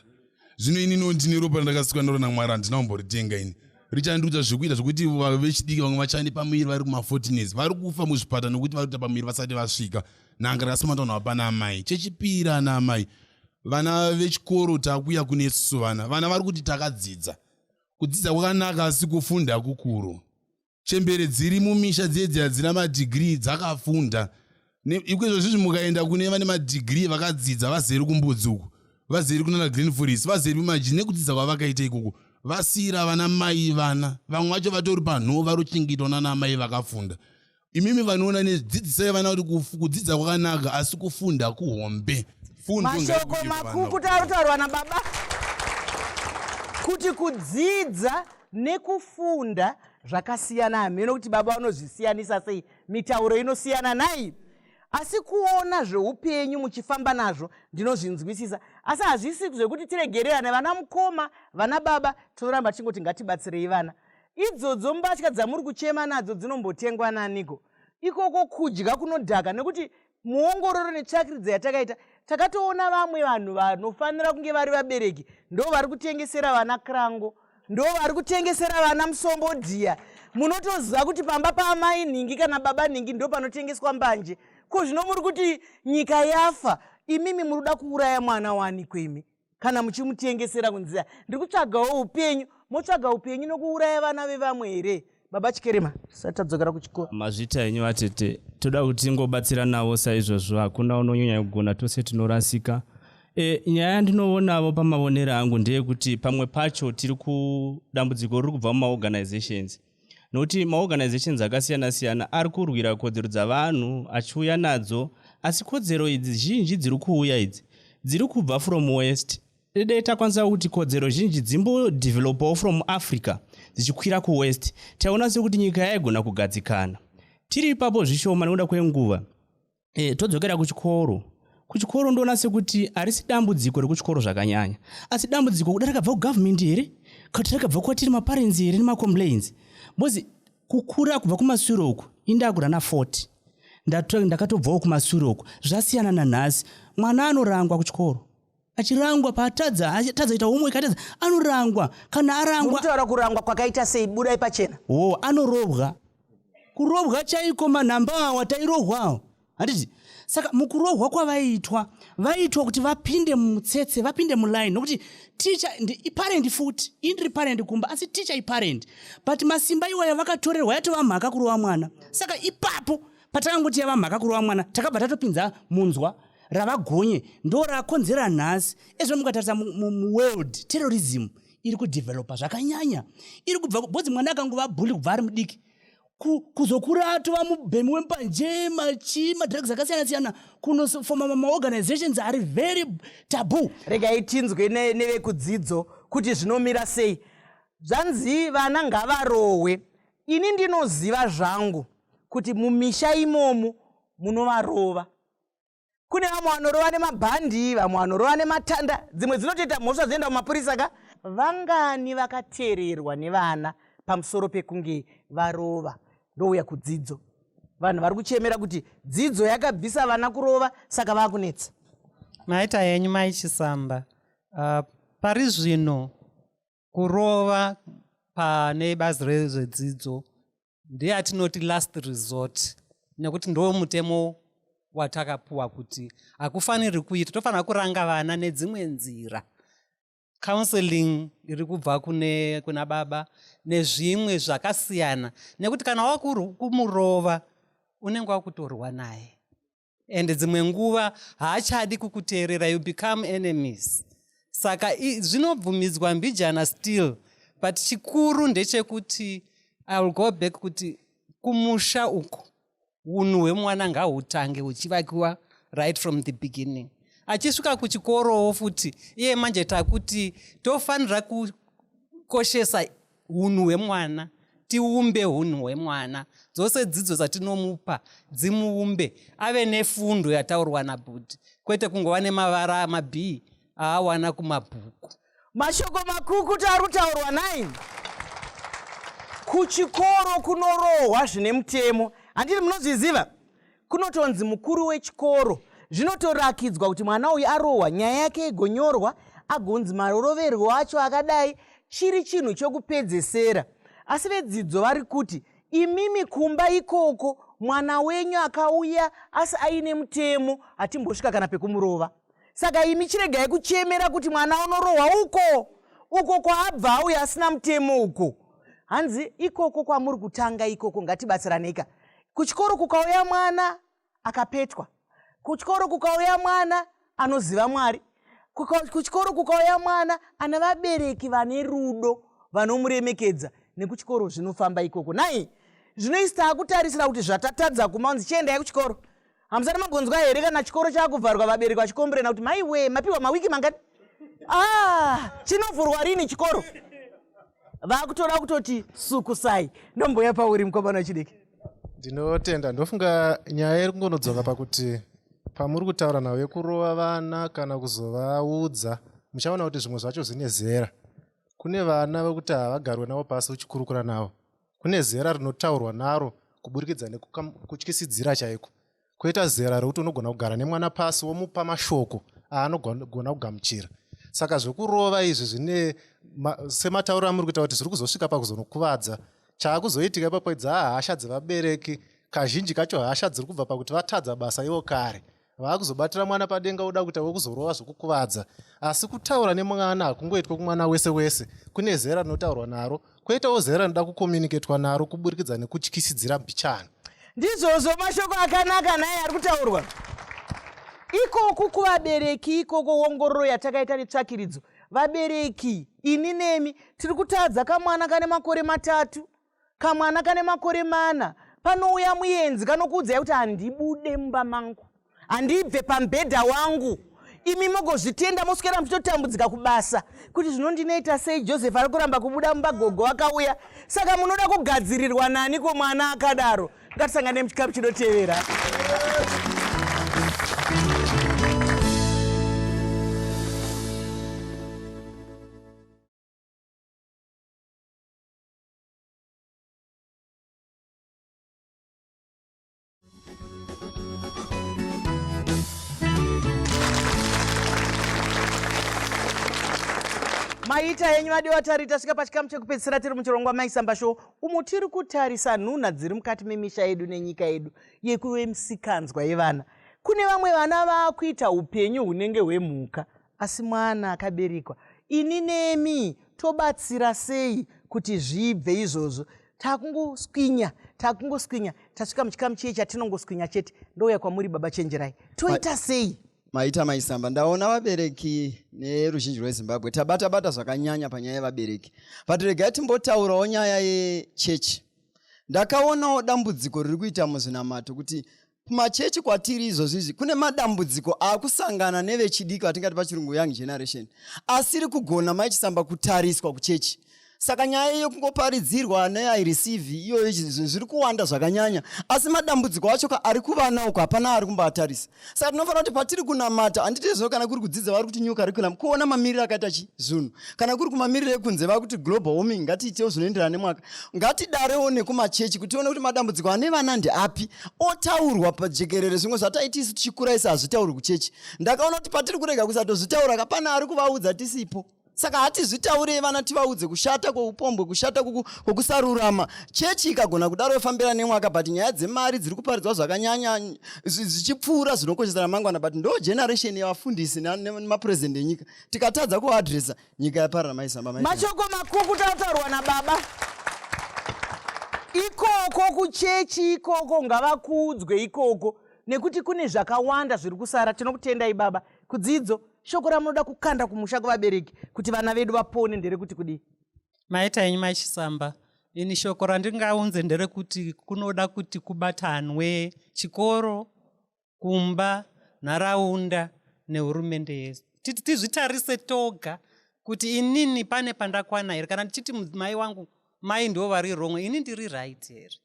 Zvino ini no ndine ropa randakasikwa naro naMwari handina kumboritenga ini. Richandiudza zvekuita zvekuti vechidiki vamwe vachane pamuviri vari kuma-fortines vari kufa muzvipata nokuti vari kuita pamuviri vasati vasvika. Nanga rakasamata vanhu vapana amai. Chechipiri ana amai. vana vechikoro takuya kune susu vana vana vari kuti takadzidza kudzidza kwakanaka asi kufunda kukuru chembere dziri mumisha dziedzi hadzina madhigiri dzakafunda ikoizvo zvizvi mukaenda kune vane madhigiri vakadzidza vazeri kumbudzi uku vazeri kunana green foris vazeri kumaji nekudzidza kwavakaita ikoko vasiyira vana mai vana vamwe vacho vatori panhoo vari kuchengetwa nana amai vakafunda imimi vanoona nezvidzidzisai vana kuti kudzidza kwakanaka asi kufunda kuhombe mashoko makuku tautaurwa nababa kuti kudzidza nekufunda zvakasiyana hameno kuti baba vanozvisiyanisa sei mitauro inosiyana nai asi kuona zveupenyu muchifamba nazvo ndinozvinzwisisa asi hazvisi zvekuti tiregererane vana mukoma vana baba tinoramba tichingoti ngatibatsirei vana Idzodzo mbatya dzamuri kuchema nadzo dzinombotengwa naniko? Ikoko kudya kunodhaka nekuti muongororo netsvakiridza yatakaita takatoona vamwe vanhu vanofanira kunge vari vabereki ndo vari kutengesera vana krango ndo vari kutengesera vana musombo dhiya munotoziva kuti pamba paamai nhingi kana baba nhingi ndo panotengeswa mbanje ko zvino muri kuti nyika yafa imimi muri kuda kuuraya mwana waaniko imi kana muchimutengesera kunzi ndiri kutsvagawo upenyu motsvaga upenyu nokuuraya vana vevamwe here baba chikerema tisati tadzokera kuchikoro mazvita enyu vatete toda kuti ngobatsira navo saizvozvo hakuna unonyanya kugona tose tinorasika e, nyaya yandinoonawo pamavonero angu ndeyekuti pamwe pacho tiri kudambudziko riri kubva mumaorganizations nokuti maorganizations akasiyana siyana ari kurwira kodzero dzavanhu achiuya nadzo asi kodzero idzi zhinji dziri kuuya idzi dziri kubva from west dai takwanisa kuti kodzero zhinji dzimbodevelopawo from africa dzichikwira kuwest taiona sekuti nyika yaigona kugadzikana tiri ipapo zvishoma nekuda kwenguva e, todzokera kuchikoro kuchikoro ndoona sekuti harisi dambudziko rekuchikoro zvakanyanya asi dambudziko kuda rakabva kugovernment here kati rakabva kwatiri maparents here nemacomplains bcoz kukura kubva kumasure uku indakura na40 ndakatobvawo kumasure uku zvasiyana nanhasi mwana anorangwa kuchikoro achirangwa paatadza atadza ita homework atadza anorangwa kana arangwa mutaura kurangwa kwakaita sei budai pachena o oh, anorobwa kurobwa chaiko manhamba awa tairohwawo handiti saka mukurohwa kwavaiitwa vaiitwa kuti vapinde mutsetse vapinde muline nokuti ticha iparendi futi indiri parendi kumba asi ticha iparendi but masimba iwaya vakatorerwa yatova mhaka kurova mwana saka ipapo patangoti yava mhaka kurova mwana takabva tatopinza munzwa ravagonye ndo rakonzera nhasi ezvo mukatarisa muworld terrorism iri kudevelopa zvakanyanya iri kubva bhozi mwana akangova bhuli kubva ari mudiki kuzokura atova mubhemi wembanje machi madrugs akasiyana siyana kunofoma mamaorganizations ari very tabu regai tinzwe nevekudzidzo kuti zvinomira sei zvanzi vana ngavarohwe ini ndinoziva zvangu kuti mumisha imomu munovarova kune vamwe vanorova nemabhandi vamwe vanorova nematanda dzimwe dzinotoita mhosva dzoenda kumapurisa ka vangani vakateererwa nevana pamusoro pekunge varova ndouya kudzidzo vanhu vari kuchemera kuti dzidzo yakabvisa vana kurova saka vakunetsa maita yenyu maichisamba uh, pari zvino kurova pane bazi rezvedzidzo ndiye atinoti last resort nekuti ndo mutemo watakapuwa kuti hakufaniri kuita tofanira kuranga vana nedzimwe nzira counseling iri kubva kune kuna baba nezvimwe zvakasiyana nekuti kana wakumurova unenge wakutorwa naye and dzimwe nguva haachadi kukuteerera you become enemies saka zvinobvumidzwa mbijana still but chikuru ndechekuti i will go back kuti kumusha uko unhu hwemwana ngahutange huchivakiwa right from the beginning achisvika kuchikorowo futi iye manje takuti tofanira kukoshesa hunhu hwemwana tiumbe hunhu hwemwana dzose dzidzo dzatinomupa dzimuumbe ave nefundo yataurwa nabhudhi kwete kungova nemavara amabhii aawana kumabhuku mashoko makukuti ari kutaurwa nai kuchikoro kunorohwa zvine mutemo handiti munozviziva kunotonzi mukuru wechikoro zvinotorakidzwa kuti mwana uyu arohwa nyaya yake igonyorwa agonzi maroroverwo acho akadai chiri chinhu chokupedzesera asi vedzidzo vari kuti imimi kumba ikoko mwana wenyu akauya asi aine mutemo hatimbosvika kana pekumurova saka imi chiregai kuchemera kuti mwana unorohwa uko uko kwaabva auya asina mutemo uko hanzi ikoko kwamuri kutanga ikoko ngatibatsiraneika kuchikoro kukauya mwana akapetwa kuchikoro kukauya mwana anoziva mwari kuchikoro kukauya mwana ana vabereki vane rudo vanomuremekedza nekuchikoro zvinofamba ikoko nai zvinoisi taakutarisira kuti zvatatadza kumaunzi chiendai kuchikoro hamusati mambonzwa here kana chikoro chaakuvharwa vabereki vachikomburena kuti maiwe mapiwa mawiki mangati ah, chinovhurwa rini chikoro vakutoda kutoti sukusai ndomboya pauri mukomana wechidiki ndinotenda ndofunga nyaya iri kungonodzoka pakuti pamuri kutaura navo yekurova vana kana kuzovaudza muchaona kuti zvimwe zvacho zvine zera kune vana vekuti havagarwe navo pasi uchikurukura navo kune zera rinotaurwa naro kuburikidza nekutyisidzira chaiko koita zera rekuti unogona kugara nemwana pasi womupa mashoko aanogona kugamuchira saka zvekurova izvi zvine sematauro amuri kuita kuti zviri kuzosvika pakuzonokuvadza chaakuzoitika ipapo idzi hahasha dzevabereki kazhinji kacho hasha dziri kubva pakuti vatadza basa ivo kare vaakuzobatira mwana padenga oda kuita wekuzorova zvokukuvadza asi kutaura nemwana hakungoitwa kumwana wese wese kune zera rinotaurwa naro kwoitawo zera rinoda kukomuniketwa naro kuburikidza nekutyisidzira mbichana ndizvozvo mashoko akanaka naye ari kutaurwa ikoku kuvabereki ikoko wongororo yatakaita netsvakiridzo vabereki ini nemi tiri kutadza kamwana kane makore matatu kamwana kane makore mana panouya muyenzi kanokuudzai kuti handibude mumba mangu handibve pamubhedha wangu imi mogozvitenda moswera muchitotambudzika kubasa kuti zvinondinoita sei joseph ari kuramba kubuda mumba gogo akauya saka munoda kugadzirirwa nani ko mwana akadaro ngatisangane muchikapu chinotevera maita henyu vadiwa tari tasvika pachikamu chekupedzisira tiri muchirongwa maisamba show umo tiri kutarisa nhunha dziri mukati memisha yedu nenyika yedu yekuve misikanzwa yevana kune vamwe vana vakuita upenyu hunenge hwemhuka Asi mwana akaberekwa, ini nemi tobatsira sei kuti zvibve izvozvo? takungoswinya takungoswinya tasvika muchikamu chiye chatinongoswinya chete ndouya kwamuri baba chenjerai toita sei maita maisamba ndaona vabereki neruzhinji rwezimbabwe tabata bata zvakanyanya panyaya yevabereki but regai timbotaurawo nyaya yechechi ndakaonawo dambudziko riri kuita muzvinamato kuti kumachechi kwatiri izvozvizvi kune madambudziko akusangana nevechidiki vatingati pachirungu young generation asiri kugona maichisamba kutariswa kuchechi saka nyaya iyo kungoparidzirwa neaireceive iyoyo zviri kuwanda zvakanyanya asi madambudziko acho ka ari kuvana uko hapana ari kumboatarisa saka tinofanira kuti patiri kunamata handiti zvino kana kuri kudzidza vari kuti new curriculum kuona mamiriro akaita chi zvinhu kana kuri kumamiriro ekunze vava kuti global warming ngatiitewo zvinoenderana nemwaka ngatidarewo nekumachechi kuti tione kuti madambudziko ane vana ndeapi otaurwa pajekerere zvimwe zvataiti isu tichikura isi hazvitaurwi kuchechi ndakaona kuti patiri kurega kusatozvitaura kapana ari kuvaudza tisipo saka hatizvitaurei vana tivaudze kushata kweupombwe kushata kwokusarurama chechi ikagona kudaro yofambira nemwaka but nyaya dzemari dziri kuparidzwa zvakanyanya zvichipfuura zvinokoshesa ramangwana but ndo generation yevafundisi nemapurezidendi enyika tikatadza kuadresa nyika yaparara maisamba mai mashoko makukutu ataurwa nababa ikoko kuchechi ikoko ngavakuudzwe ikoko nekuti kune zvakawanda zviri kusara tinokutendai baba kudzidzo shoko ramunoda kukanda kumusha kuvabereki kuti vana vedu vapone nderekuti kudii maita enyu maishisamba ini shoko randingaunze nderekuti kunoda kuti kubatanwe chikoro kumba nharaunda nehurumende yese titi tizvitarise toga kuti inini pane pandakwana here kana ndichiti mudzimai wangu mai ndivo vari wrong ini ndiri right here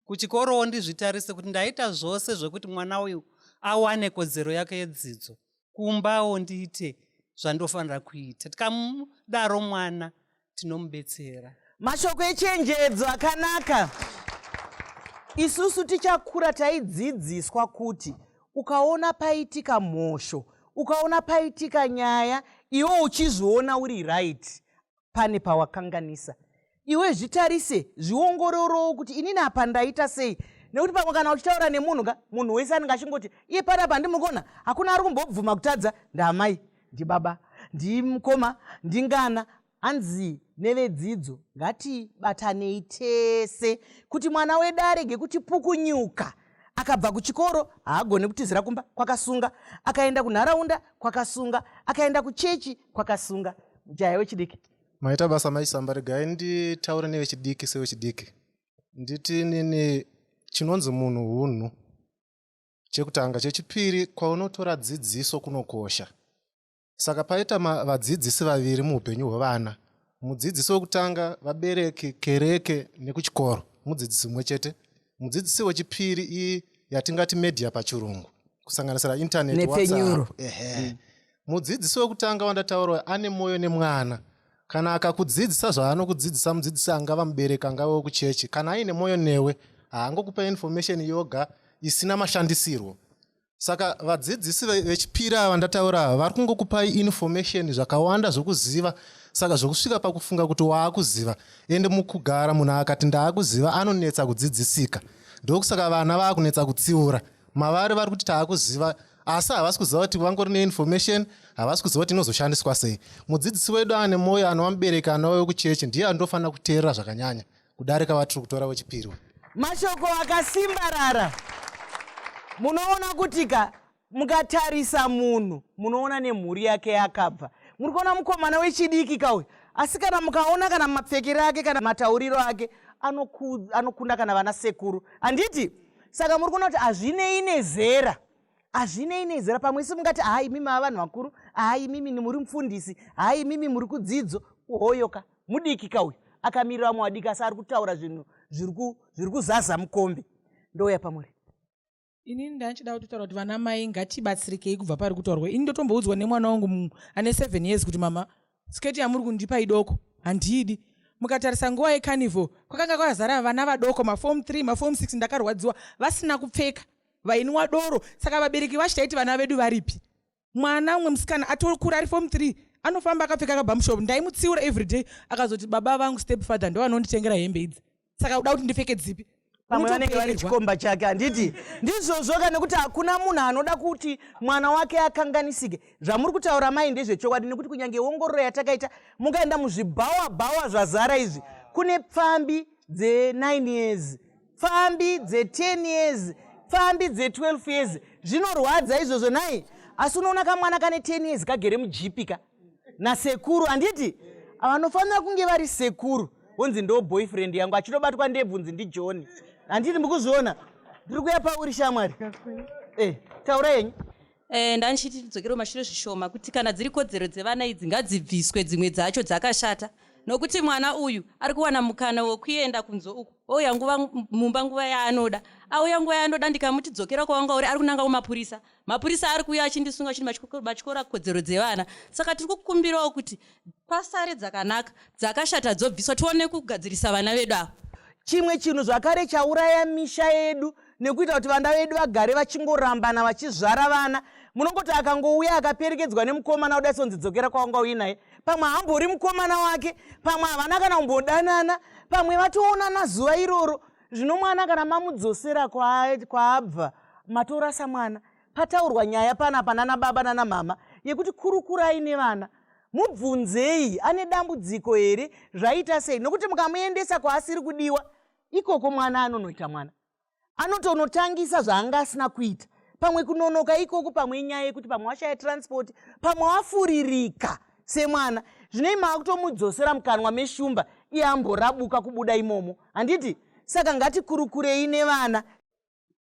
kuchikorowo ndizvitarise kuti ndaita zvose zvekuti mwana uyu awane kodzero yake yedzidzo kumbawo ndiite zvandofanira kuita tikamudaro mwana tinomubetsera mashoko echenjedzo akanaka isusu tichakura taidzidziswa kuti ukaona paitika mhosho ukaona paitika nyaya iwo uchizviona uri right pane pawakanganisa iwe zvitarise zviongororowo kuti inini apa ndaita sei nekuti pamwe kana uchitaura nemunhu ka munhu wese anenge achingoti iye pana pandimukona hakuna ari kumbobvuma kutadza ndamai ndibaba ndimukoma ndingana hanzi nevedzidzo ngatibatanei tese kuti mwana wedu arege kuti pukunyuka akabva kuchikoro haagone kutizira kumba kwakasunga akaenda kunharaunda kwakasunga akaenda kuchechi kwakasunga mjaya wechidiki maita basa maisamba regai nditaure nevechidiki sevechidiki nditi nini chinonzi munhu hunhu chekutanga chechipiri kwaunotora dzidziso kunokosha saka paita vadzidzisi vaviri muupenyu hwevana mudzidzisi wekutanga vabereki kereke nekuchikoro mudzidzisi mumwe chete mudzidzisi wechipiri ii yatingati media pachirungu kusanganisira internetnepfenyuro ehe mm. mudzidzisi wekutanga wandataura ane mwoyo nemwana kana akakudzidzisa zvaanokudzidzisa mudzidzisi angava mubereki angava wekuchechi kana aine mwoyo newe haangokupa information yoga isina mashandisirwo saka vadzidzisi vechipiri ava ndataura ava vari kungokupai information zvakawanda zvokuziva saka zvokusvika pakufunga kuti waakuziva ende mukugara munhu akati ndaakuziva anonetsa kudzidzisika ndokusaka vana vaakunetsa kutsiura mavari vari kuti taakuziva asi havasi kuziva kuti vangori neinformation havasi kuziva kuti inozoshandiswa sei mudzidzisi wedu ane mwoyo anova mubereki anova wekuchechi ndiye andofanira kuteerera zvakanyanya kudarika vatiri kutora wechipiri mashoko akasimbarara munoona kuti ka mukatarisa munhu munoona nemhuri yake yakabva muri kuona mukomana wechidiki kauyu asi kana mukaona kana mapfekero ake kana matauriro ake anokunda kana vana sekuru handiti saka muri kuona kuti hazvinei nezera hazvinei nezera pamwe isi mungati haa imimi ava vanhu vakuru haa imimi muri mufundisi haa imimi muri kudzidzo uhoyoka mudiki ka uyu akamirira vamwe vadiki asi ari kutaura zvinhu zviri kuzaza mukombi ndouya pamuri inini ndanchida kutotaura kuti vana mai ngatibatsirikei kubva pari kutaurwa ini ndotomboudzwa nemwana wangu ane seven years kuti mama Skirt yamuri kundipa idoko handiidi. Mukatarisa nguva yecarnival kwakanga kwazara vana vadoko maform 3 maform 6 ndakarwadziwa vasina kupfeka vainwa doro saka vabereki vacho taiti vana vedu varipi mwana umwe musikana atokura ari form 3 anofamba akapfeka kabamshop ndaimutsiura everyday akazoti baba vangu step father ndoanonditengera hembe idzi saka uda kuti ndipfeke dzipi pamwe vanenge vari chikomba chake handiti ndizvozvoka nekuti hakuna munhu anoda kuti mwana wake akanganisike zvamuri kutaura mai ndezvechokwadi nekuti kunyange ongororo yatakaita mukaenda muzvibhawa bhawa zvazara izvi kune pfambi dze9 years pfambi dze10 years pfambi dze12 years zvinorwadza izvozvo nai asi unoona kamwana kane 10 years kagere mujipi ka nasekuru handiti vanofanira kunge vari sekuru vonzi ndo boyfriend yangu achitobatwa ndebvunzi ndijohn handiti mukuzviona ndiri kuya pauri shamwari eh, taura yenyu Eh, ndandichiti tidzokere kumashure zvishoma kuti kana dziri kodzero dzevana idzi ngadzibviswe dzimwe dzacho dzakashata nokuti mwana uyu ari kuwana mukana wekuenda kunzo uku ouya nguva mumba nguva yaanoda auya nguva yaanoda ndikamuti dzokera kwawanga uri ari kunanga kumapurisa mapurisa ari kuuya achindisunga chiti matyora kodzero dzevana saka tiri kukumbirawo kuti pasare dzakanaka dzakashata dzobviswa tione kugadzirisa vana vedu ava chimwe chinhu zvakare chauraya misha yedu nekuita kuti vana vedu vagare vachingorambana vachizvara vana munongoti akangouya akaperekedzwa nemukomana kudai sonzi dzokera kwawanga uyi naye pamwe hambori mukomana wake pamwe havana kana kumbodanana pamwe vatoonana zuva iroro zvino mwana kana mamudzosera kwaabva matorasa mwana pataurwa nyaya pana panana baba nana mama yekuti kurukurai nevana mubvunzei ane dambudziko here zvaita sei nokuti mukamuendesa kwaasiri kudiwa ikoko mwana anonoita mwana anotonotangisa zvaanga asina kuita pamwe kunonoka ikoko pamwe inyaya yekuti pamwe washaya transport pamwe wafuririka semwana zvinei maakutomudzosera mukanwa meshumba iye amborabuka kubuda imomo handiti saka ngatikurukurei nevana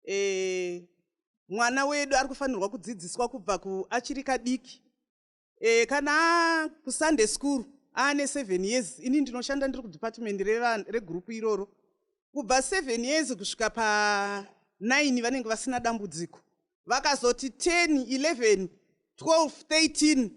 e, mwana wedu ari kufanirwa kudzidziswa kubva kuachiri kadiki e, kana kusunday school aane seven years ini ndinoshanda ndiri kudepartment regurupu iroro kubva seven years kusvika pa nine vanenge vasina dambudziko vakazoti 10 11 12 13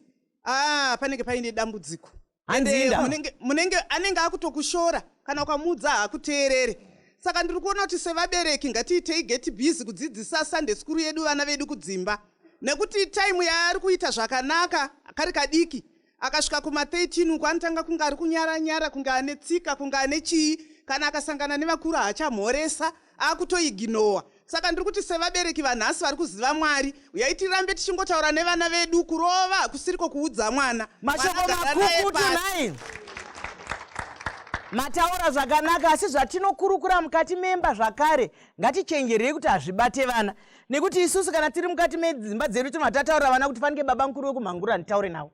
ah panenge paine dambudziko hanzinda munenge, munenge anenge akutokushora kana ukamuudza haakuteerere saka ndiri kuona kuti sevabereki ngatiitei geti busy kudzidzisa sunday skuru yedu vana vedu kudzimba nekuti taimu yaari kuita zvakanaka kari kadiki akasvika kuma 13 uku anotanga kunge ari kunyara nyara kunge ane tsika kunge ane chii kana akasangana nevakuru haachamhoresa akutoiginowa saka ndiri kuti sevabereki vanhasi vari kuziva mwari uyai tirambe tichingotaura nevana vedu kurova hakusiriko kuudza mwana mashoko makukutu nhai mataura zvakanaka asi zvatinokurukura mukati memba zvakare ngatichenjerei kuti hazvibate vana nekuti isusu kana tiri mukati medzimba dzedu tinobva tataurira vana kuti fanike baba mukuru wekumhangura nditaure navo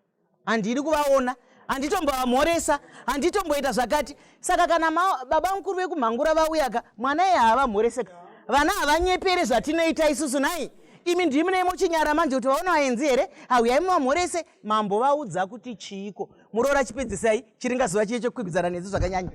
handidi kuvaona handitomboamhoresa handitomboita zvakati saka kana baba mukuru vekumhangura vauyaka mwana iye haavamhoreseka vana havanyepere zvatinoita isusu nai imi ndimi neimochinyara manje kuti vaona vaenzi here hauyai mumamhorese Mambo vaudza kuti chiiko muroora chipedzisai chiringa zuva chiye chekukwikwidzana nesu zvakanyanya.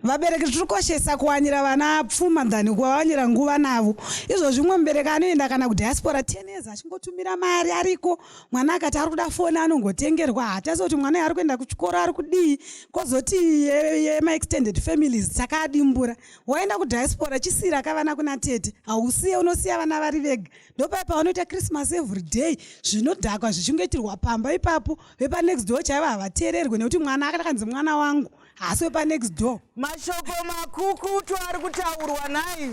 Vabereki tiri koshesa kuwanira vana pfuma than kuvawanira nguva navo. Izvo zvimwe mubereki anoenda kana kudiaspora 10 years achingotumira mari ariko. Mwana akati ari kuda foni anongotengerwa haatasi kuti mwana ari kuenda kuchikoro ari kudii kozoti yema extended families takadimbura. Waenda kudiaspora chisira kavana kuna tete hausiye unosiya vana vari vega. ndopaya pavanoita christmas every day zvinodhakwa zvichingoitirwa pamba ipapo vepanext door chaivo havateererwe nekuti mwana akakanzi mwana wangu haasi wepanext door mashoko makukutu ari kutaurwa nai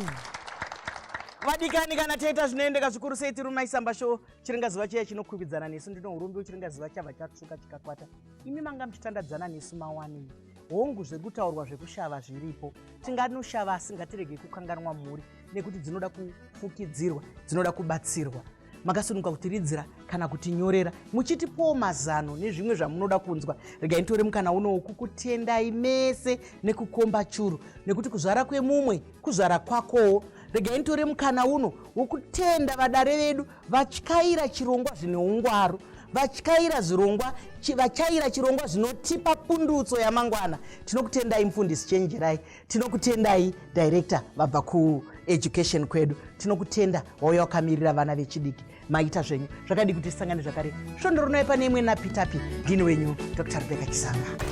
vadikani kana taita zvinoendeka zvikuru sei tiri maisamba sho chiringazuva chiya chinokwikwidzana nesu ndinourumbi uchiringazuva chabva chatusuka chikakwata imi manga muchitandadzana nesu mawani hongu zvekutaurwa zvekushava zviripo tinganoshava asi ngatirege kukanganwa mhuri nekuti dzinoda kufukidzirwa dzinoda kubatsirwa makasununguka kutiridzira kana kutinyorera muchitipowo mazano nezvimwe zvamunoda kunzwa regai nitore mukana unowo kukutendai mese nekukomba churu nekuti kuzvara kwemumwe kuzvara kwakowo regai nitore mukana uno wokutenda vadare vedu vatyaira chirongwa zvine ungwaru vatyaira zvirongwa vatyaira chirongwa zvinotipa pundutso yamangwana tinokutendai mufundisi chenjerai tinokutendai director vabva kueducation kwedu tinokutenda wauya wakamirira vana vechidiki maita zvenyu zvakadii kuti tisangane zvakare svondo rinoi pane imwe napitapi ndini wenyu dr rebeka chisanga